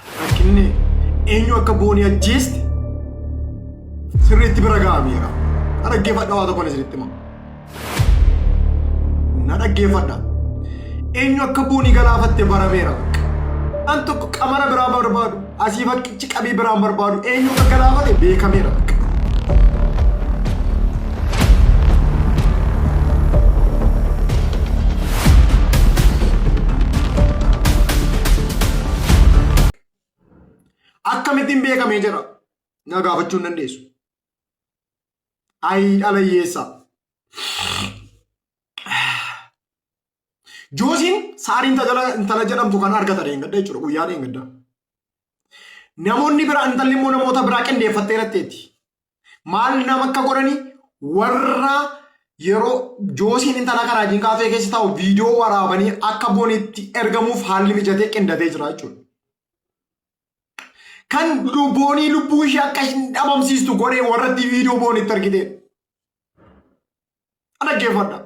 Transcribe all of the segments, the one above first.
Rakkinni eenyu akka boonii ajjeeste sirriitti bira ga'ameera. Na dhaggeeffadha waa tokkoon isinitti hima. Na dhaggeeffadha. Eenyu akka boonii galaafatte barameera. An tokko qamara biraa barbaadu asii fakkichi qabii biraan barbaadu eenyu akka galaafate beekameera. akkamittiin beekamee jira na gaafachuu hin dandeessu. Ayii dhala hiyyeessaa. Joosiin saarii intala intala jedhamtu kan argatan hin gadda jechuudha guyyaa hin gadda. Namoonni biraa intalli immoo namoota biraa qindeeffattee irratteetti. Maal nama akka godhani warra yeroo joosiin intala kanaa wajjin kaafee keessa taa'u viidiyoo waraabanii akka bonitti ergamuuf haalli mijatee qindatee jira jechuudha. Kan boonii lubbuu ishee akka hin dhabamsiistu godhee warratti viidiyoo boonitti argitee. Dhaggeeffadha.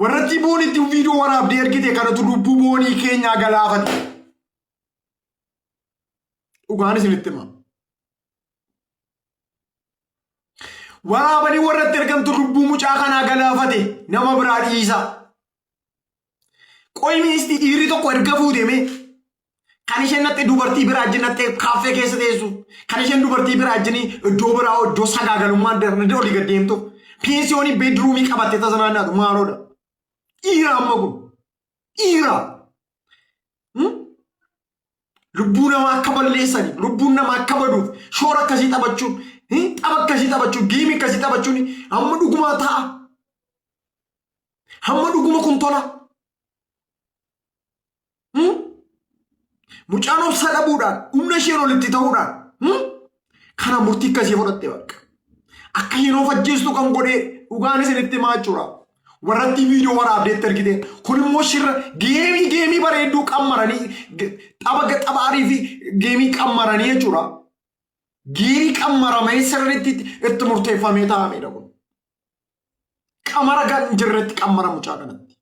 Warratti boonitti viidiyoo waraabdee ergite kanatu lubbuu boonii keenyaa galaafate. Dhugaan isinitti hima. Waraabanii warratti ergamtu lubbuu mucaa kanaa galaafate nama biraa dhiisaa. Qoy ministii dhiirri tokko erga fuuteemee kan isheen natti dubartii biraa ajjin natti kaaffee keessa teessu kan isheen dubartii biraa ajjin iddoo biraa iddoo sagaagalummaan darbe olii gad deemtu pensiyoonii beedruumii qabattee tasa naannaatu maaloodha. Dhiira amma kun Dhiira. Hmm? Lubbuu namaa akka balleessani, lubbuun namaa akka baduuf, shoora akkasii taphachuun, hmm? tapha akkasii taphachuun, geemii akkasii taphachuun hamma dhugumaa ta'a. Hamma dhuguma kun tola. Hmm? Mucaan obsa dhabuudhaan, humna isheen olitti ta'uudhaan, hmm? Kana murtii akkasii fudhatte bakka. Akka yeroo fajjeessu kan godhe dhugaan isinitti himaa jechuudha. Warratti viidiyoo waraabdeetti ergite. Kun immoo shirra geemii geemii bareedduu qammaranii ge- tapha ga- tapha arii fi geemii qammaranii jechuudha. Geemii qammaramee sirriitti itti itti murteeffamee taa'amedha kun. Qamara kan hin jirretti qammara mucaa kanatti.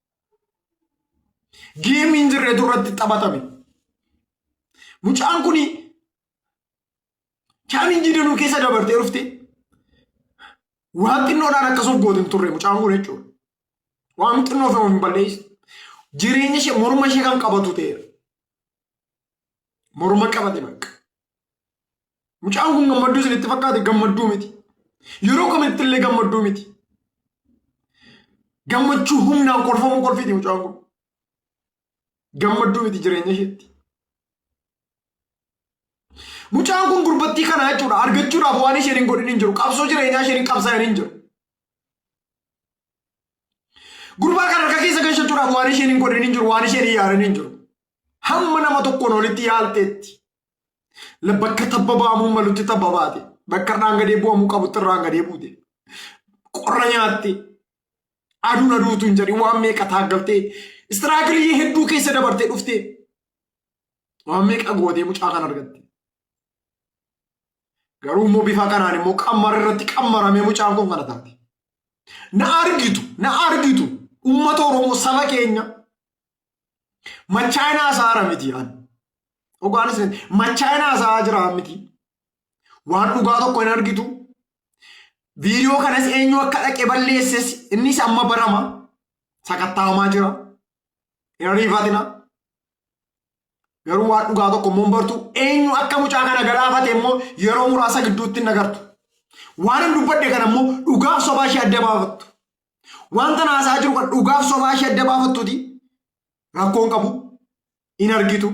Geemii hin jirretu irratti taphatame. Mucaan kuni Chaalinjii danuu keessa dabartee dhufte waan xinnoodhaan akkasumas goote hin turre mucaan kun jechuudha. Waan xinnoo fi hin balleessu. Jireenya ishee morma ishee kan qabatu ta'eera. Morma qabate bakka. Mucaan kun gammadduu isinitti fakkaate gammadduu miti. Yeroo kamitti illee gammadduu miti. Gammachuu humnaan kolfamuu kolfiti mucaan kun. Gammadduu miti jireenya isheetti. Mucaan kun gurbattii kana jechuudha argachuudhaaf waan isheen hin godhin hin jiru. Qabsoo jireenyaa isheen hin qabsaa'in hin jiru. Gurbaa kana harka keessa galchachuudhaaf waan isheen hin godhin hin jiru waan isheen hin yaarin hin jiru. Hamma nama tokkoon olitti yaalteetti. Bakka tabba ba'amuu malutti tabba baate. Bakka irraan gadee bu'amuu qabutti irraan gadee buute. Qorra nyaatte. Aduun aduu utuu hin jedhin waan meeqa taaggaltee istiraagilii hedduu keessa dabartee dhuftee waan meeqa gootee mucaa kan argatte. Garuu immoo bifa kanaan immoo qammara irratti qammaramee mucaan kun kana taate. Na argitu, na argitu uummata Oromoo saba keenya machaayinaa isaara miti ani. Dhugaanis machaayinaa isaa jiraa miti. Waan dhugaa tokko hin argitu. Viidiyoo kanas eenyu akka dhaqe balleesses innis amma barama. Sakattaawamaa jira. Hin ariifatina. Garuu waan dhugaa tokko immoo hin bartu. Eenyu akka mucaa kana galaafate immoo yeroo muraasa gidduutti hin agartu. Waan hin dubbadde kana immoo dhugaaf sobaa ishee adda baafattu. Wanta haasaa jiru kan dhugaaf sobaa ishee adda baafattuti. Rakkoon qabu. Hin argitu.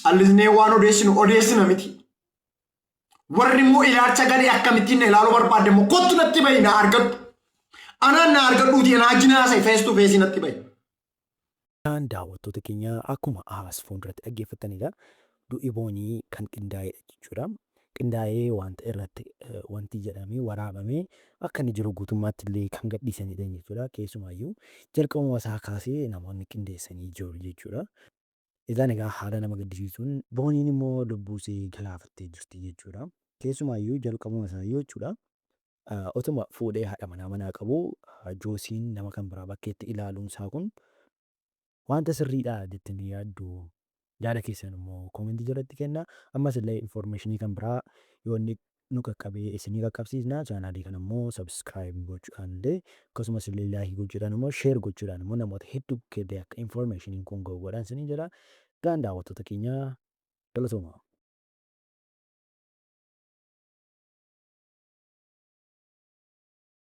callisnee waan odeessinu odeessina miti. Warri immoo ilaalcha garii akkamittiin na ilaaluu barbaadde immoo kottu natti bahi na argadhu. Anaan na argadhuuti anaa jinaasa fees tu feesii natti bahi. Isaan daawwattoota keenya akkuma as fuulduratti dhaggeeffattanidha. Du'i boonii kan qindaa'edha jechuudha. Qindaa'ee wanta irratti eh, wanti jedhamee waraabamee akka inni jiru guutummaatti illee kan gadhiisanidha jechuudha. Keessumaayyuu jalqabuma isaa kaasee namoonni qindeessanii jiru jechuudha. Egaan egaa haala nama gaddisiisuun Booniin immoo lubbuu isee galaafattee jirti jechuudha. Keessumaayyuu jalqabuma isaayyuu jechuudha otuma fuudhee haadha manaa manaa qabuu Joosiin nama kan biraa bakkeetti ilaaluun isaa kun wanta sirriidha jettanii yaaddu yaada keessan immoo koomentii jalatti kenna. Ammas illee informeeshinii kan biraa yoo inni nu qaqqabee isinii qaqqabsiisna chaanaalii kana immoo subscribe gochuudhaan illee akkasumas illee like gochuudhaan immoo share gochuudhaan immoo namoota hedduu bukkee illee akka information kun ga'u godhaan isiniin jedha gaan daawwattoota keenya galatoomaa.